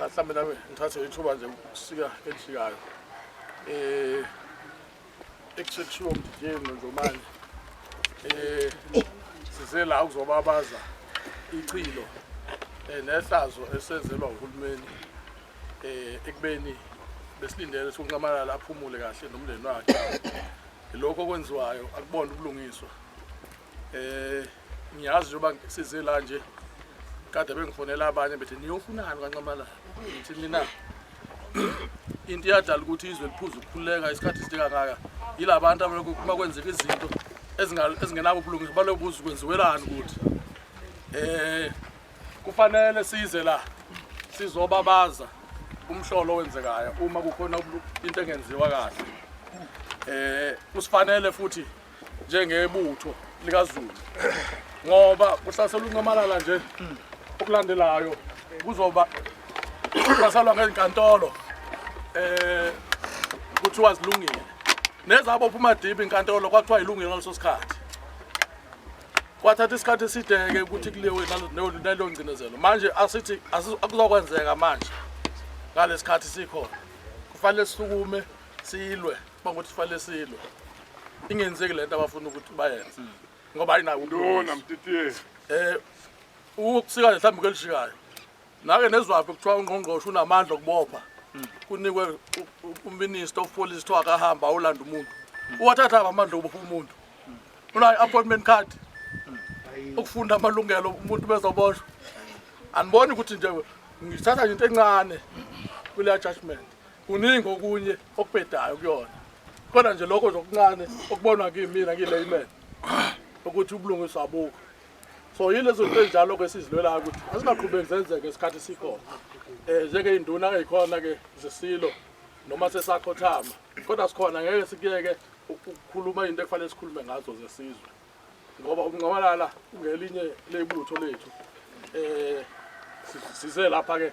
cha mhlawumbe nami ngithathe ithuba nje ukusika elishikayo eh ekusekushiwo mdijeni nonjomane eh size la ukuzobabaza ichilo eh, nehlazo esenzelwa uhulumeni eh ekubeni besilindele sokunqamalala aphumule kahle nomndeni wakhe lokho okwenziwayo akubona ubulungiswa Eh ngiyazi njengoba size la nje kade bengifonela abanye bethi niyofunani kaNxamalala ngithi mina into iyadala ukuthi izwe liphuza ukukhululeka isikhathi side kangaka yilabantu abalokhu uma kwenzeka izinto ezingenabo ubulungiswa baloku buza kwenziwelani ukuthi eh kufanele size la sizobabaza umhlolo owenzekayo uma kukhona into engenziwa kahle eh kusifanele futhi njengebutho likazulu ngoba kuhlasela unqamalala nje okulandelayo kuzoba kuhlaselwa ngezinkantolo eh kuthiwa zilungile nezabo phuma dibi inkantolo kwathiwa ilungile ngaleso sikhathi kwathatha isikhathi eside-ke ukuthi kuliwe naleyo ngcinezelo manje asithi akuzokwenzeka manje ngalesi khathi sikhona kufanele sisukume silwe bangokuthi sifanele silwe ingenzeki le nto abafuna ukuthi bayenze ngoba ayinawo lona mtitiye eh ukusika mhlawumbe kelishikayo nake nezwaphi kuthiwa ungqongqoshe unamandla okubopha kunikwe uminister of police kuthiwa akahamba awulanda umuntu uwathatha amandla okubopha umuntu unayo appointment card ukufunda amalungelo umuntu bezoboshwa andiboni ukuthi nje ngithatha into encane kuleya judgment kuningi okunye okubhedayo kuyona khona nje lokho nje okuncane okubonwa kimina ngilayman ukuthi ubulungiswa abukho so yilezo nto ezinjalo ke sizilwelayo ukuthi azingaqhubeki zenzeke isikhathi sikhona um njengey'nduna ey'khona-ke zesilo noma sesakhothama kodwa sikhona ngeke sikuyeke ukukhuluma into ekufanele sikhulume ngazo zesizwe ngoba ukunqabalala ungelinye leyibutho lethu um size lapha-ke